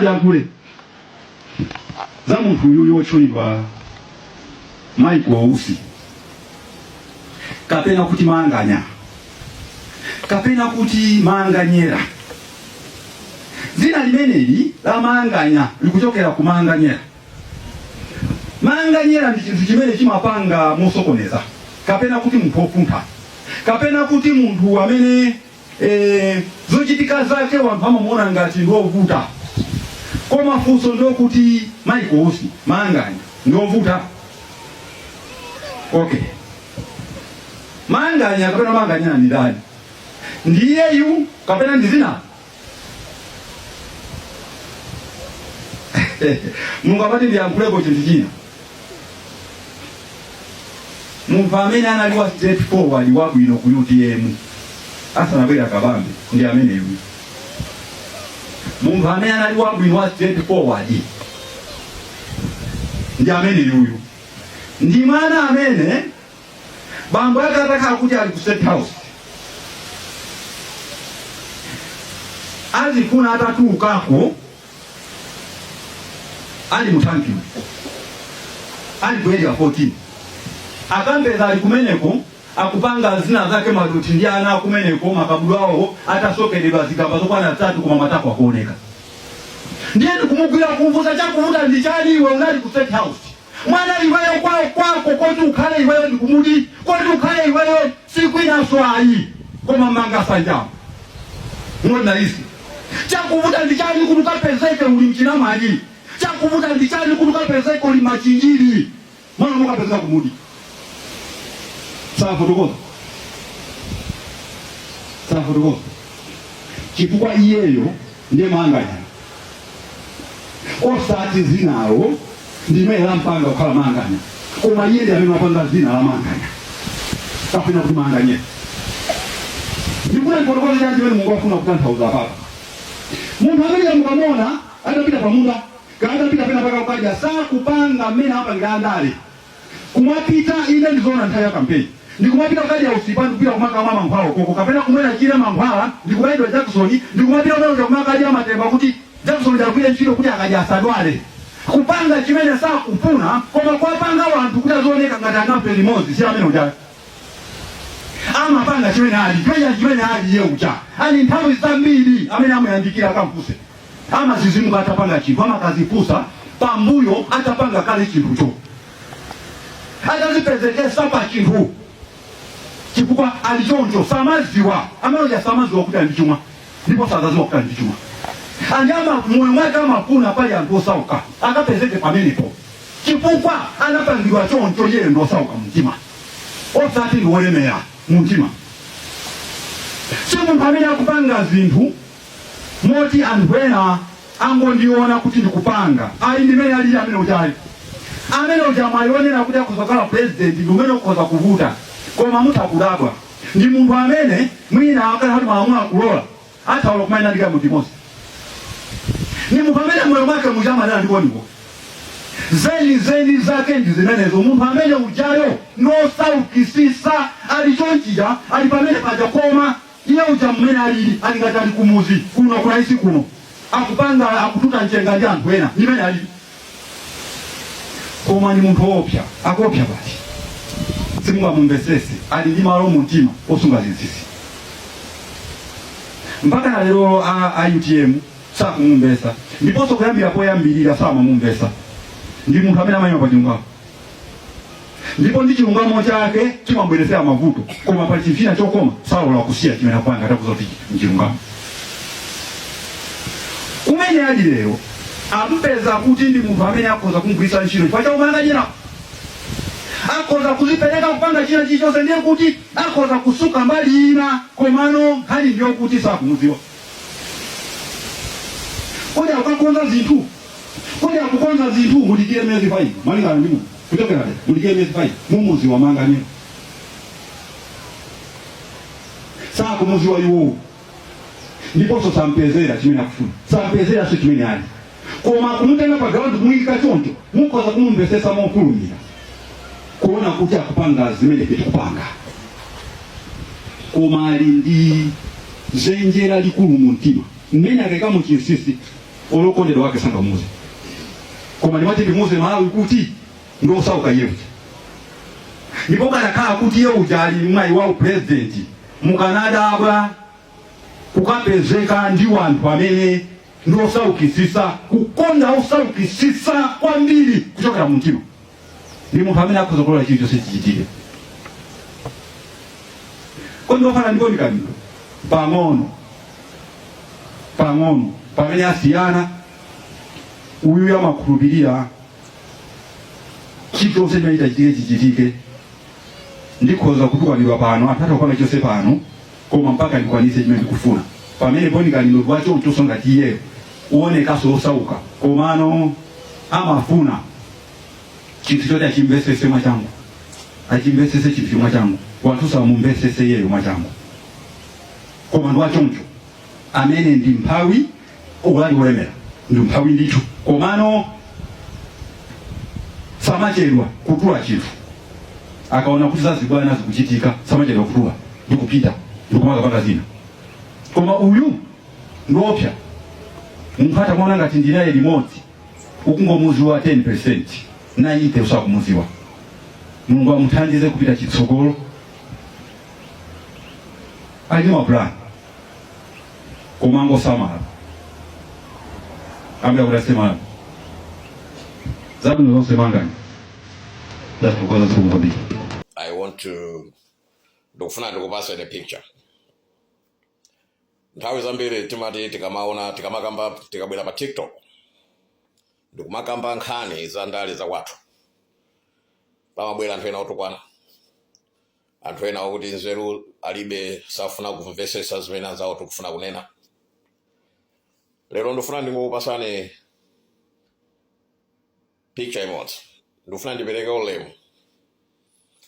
yankhule za munthu uyuyu wotchulidwa Mike Usi kapena kuti manganya kapena kuti manganyera dzina limeneli la manganya likuchokera ku manganyera manganyera ndi chinthu chimene chimapanga mosokoneza kapena kuti munthu wofuntha kapena kuti munthu amene eh, zochitika zake wanthu amamuona ngati ndiovuta koma funso ndi lokuti Mike Usi manganya ndiovuta okay manganya kapena manganya ndi ndani ndiyeyu kapena ndi dzina mulungu amati ndiyankhuleko chinthu china munthu amene anali wa straight forward wabwino ku utm asanabwera kabambe ndi ameneyu munthu amene anali wabwino wa straight forward ndi ameneyuyu ndi mwana amene bambo ake atakhala kuti ali ku state house azimufuna atatulukako ali muthankiwo ali ku area 14 akampeza ali kumeneko akupanga zina zake maluti ndi ana akumeneko makabudula awo atasokeredwa zigamba zokwana zitatu koma matako akuoneka ndiye ndikumugwira kumufunsa chakuvuta ndi chani iwe unali ku state house Mwana iweyo kwako koti ukhale iweyo ndi kumudzi koti ukhale iweyo si kwinanso ayi koma manga sanja ogona izi chakuvuta ndichani kuti ukapezeke uli mu chinamwali chakuvuta ndichani kuti ukapezeke uli machinjiri mwana mukapezeka kumudzi safotokoza safotokoza chifukwa iyeyo ndiye manganya osati dzinalo ndi limene lampanga kukhala manganya koma iye ndi amene wapanga dzina la manganya kapena kuti manganyera ndikufuna ndifotokoze chani chimene mulungu afuna kutanthauza papa munthu amene mukamuona atapita pamunda kaya atapita pena pake kukadya sakupanga mmene apangira andale kumapita ine ndizoona nthawi ya kampeni ndikumapita kukadya usipa ndikupita kumakamwa mankhwala ukoko kapena kumwera chire mankhwala ndikubayidwa jakisoni ndikumapita kunakuja kumakadya matemba kuti jakisoni agwire ntchito kuti akadya asadwale kupanga chimene sakufuna koma kwapanga wanthu kuti azioneka ngati anafe limodzi si amene uja amapanga chimene ali uja chimene ali iye uja ali nthawi zambiri amene amuyandikira akamfuse amazizimuka atapanga chinthu amakazifunsa pambuyo atapanga kale chinthucho atazipezekesa pa chinthu chifukwa ali choncho samaziwa ameneuja samaziwa kuti ali ndi chuma ndipo sazaziwa kuti ali ndi chuma ndi ndalama moyo mwake amafuna pali anthu osauka akapezeke pamenepo chifukwa anapangidwa choncho yeye ndi osauka mumtima osati ndi wolemera mumtima si munthu amene akupanga zinthu moti anthu ena angondiona kuti ndikupanga ayi ndimene alili amene ujayo amene uja. Mwayi wonena kuti akhoza kukhala president ndi umene ukhoza kuvuta koma mutha kudabwa ndi munthu amene mwina akali pati malamulo akulola ataola kuimaima ndi kaimuntu imodzi ndi munthu amene moyo mwake muja amanena ndikoniwo zeni zeni zake ndi zimenezo munthu amene ujayo nosaukisisa ali chonchija ali pamene paja koma Iye uja mmene alili ali ngati ali kumuzi kuno ku Naisi kuno akupanga akututa mchenga ndi anthu ena ndi mene alili koma ndi munthu oopsa akuopsa basi simungamumvesese ali ndi malo mu mtima osunga zinsinsi mpaka na lero a, a utm sakumumvesa ndiponso kuyambira poyambirira samamumvesa ndi munthu amene amayima pa chilungamo ndipo ndi chilungamo chake chimamubweretsera mavuto koma pali chinthu china chokoma salola kusiya chimene akupanga atakuuza kuti nchilungamo kumene ali lero ampeza kuti ndi munthu amene akhoza kumgwiritsa ntchito chifukwa cha umanganya akhoza kuzipereka kupanga china chilichonse ndiye kuti akhoza kutsuka mbali ina komano nkhani ndiyokuti sakumudziwa kodi akukonza zinthu Kodi akukonza zinthu mudikire miyezi 5 malingana ndi munthu kuchokera lero mudikire miyezi 5 mumuziwa manganya sakumuziwa iwowo ndiponso sanampezere chimene akufuna sanampezerenso chimene ali koma kumutenga pa ground kumuyika choncho mukhoza kumumvesesa mofulumira kuona kuti akupanga zimene tikupanga koma ali ndi zenjera likulu mu mtima mmene akaika chinsinsi olo okondedwa wake sangamuuze koma ndimati ndimuuze Malawi kuti ndi osauka iye uja ndipo kukanakhala kuti iye uja ali mwayi wa upulezidenti mukanadabwa kukapezeka ndi wanthu amene ndi osaukisisa kukonda osaukisisa kwambiri kuchokera mumtima ndi munthu amene akhoza kulola chilichonse chichitike kodi ndofana ndi kodi kabilo pang'ono pang'ono pamene asiyana uyu amakhulupirira chilichonse chimene chitachitike chichitike ndikhoza kutukwanidwa pano anthu atakwana chonse pano koma mpaka ndikwanise chimene ndikufuna pamene ponikaniro lwachonchonso ngati iyeyo uonekaso osauka komano amafuna chinthu choti achimvesese mwachangu achimvesese chinthu mwachangu wanthu samumvesese yeyo mwachangu koma ndi wachoncho amene ndi mphawi olo ali wolemera ndi mphawi ndithu komano samachedwa kutula chinthu akaona kuti zazibwana zikuchitika samachedwa kutula ndi kupita ndi kumakapanga zina koma uyu ndiopsa munthu utamuona ngati ndinaye limodzi ukungomuziwa 10% 90 usakumuziwa mulungu amuthandize kupita chitsogolo ali ndi mapulani koma angosamala ambira kuti asemala zabwino zonse mangani ndathokoza zikomo kwambiri I want to ndikufuna ndikupaseni the picture nthawi zambiri timati tikamaona tikamakamba tikabwera pa tiktok ndikumakamba nkhani za ndale za kwathu pamabwera anthu ena otukwana anthu ena okuti nzeru alibe safuna kumvesesa zimene anzawo tikufuna kunena lero ndifuna ndingokupasani picture imodzi ndikufuna ndipereke ulemu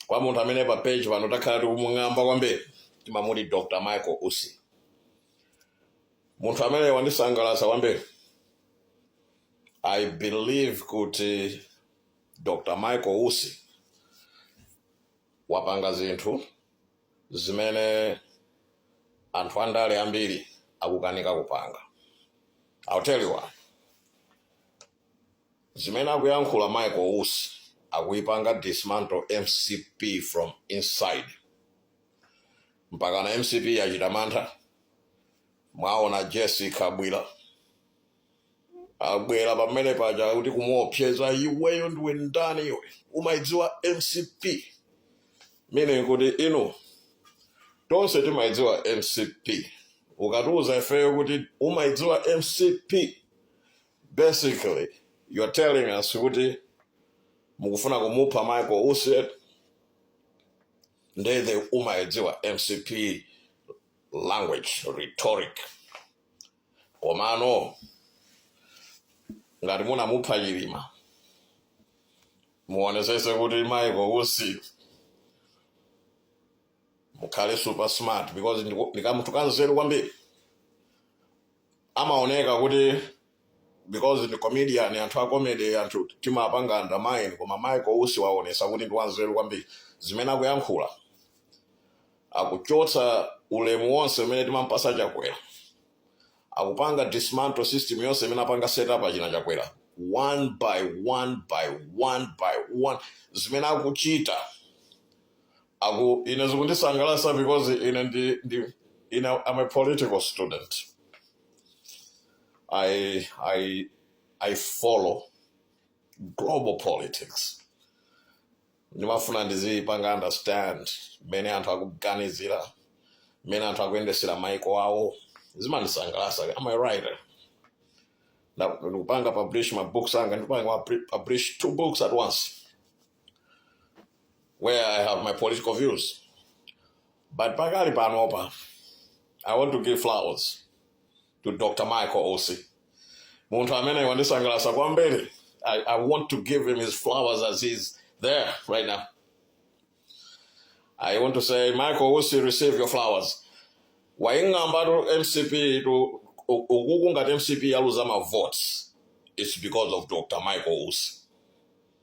kwa munthu amene pa page pano takhala tikumung'amba kwambiri timamuti dr michael usi munthu amene wandisangalatsa kwambiri i believe kuti dr michael usi wapanga zinthu zimene anthu andale ambiri akukanika kupanga i'll tell you why Zimene akuyankhula Michael Usi akuyipanga dismantle mcp from inside. Mpakana mcp yachita mantha. Mwaona Jessie Kabwila abwera pamene paja kuti kumuopseza iweyo ndiwe ndani iwe umaidziwa mcp meaning kuti inu tonse timaidziwa mcp ukatiuza ifeyo kuti umaidziwa mcp Basically, you're telling us kuti mukufuna kumupha Michael Usi nde umayidziwa mcp language rhetoric komano ngati munamupha chilima muonesese kuti Michael Usi mukhale super smart because ndi kamunthu kanzeru kwambiri amaoneka kuti because ndi comedian anthu a comedy anthu timapanga undermine koma michael usi waonesa kuti ndi wanzeru kwambiri zimene akuyankhula akuchotsa ulemu wonse umene timampasa chakwera akupanga dismantle system yonse imene apanga setup achina chakwera one by one by one by one zimene akuchita Aku, ine zikundisangalasa because ine ndi, I'm a political student. I I I follow global politics. Ndimafuna ndizipanga understand mmene anthu akuganizira, mmene anthu akuyendesera maiko awo. Zimandisangalasa. I'm a writer. Nda- Ndikupanga publish mabooks anga, ndipanga publish two books at once. where I have my political views. But pakali panopa, I want to give flowers to Dr. Michael Osi. Munthu amene wandisangalatsa kwambiri. I, I want to give him his flowers as he's there right now. I want to say, Michael Osi, receive your flowers. Waing'amba to MCP to ukuku ngati MCP yaluza ma votes. It's because of Dr. Michael Osi.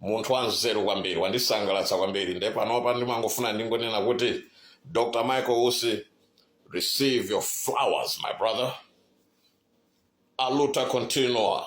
munthu wanzeru kwambiri wandisangalatsa kwambiri nde panopa ndimangofuna ndingonena kuti dr michael usi receive your flowers my brother aluta continua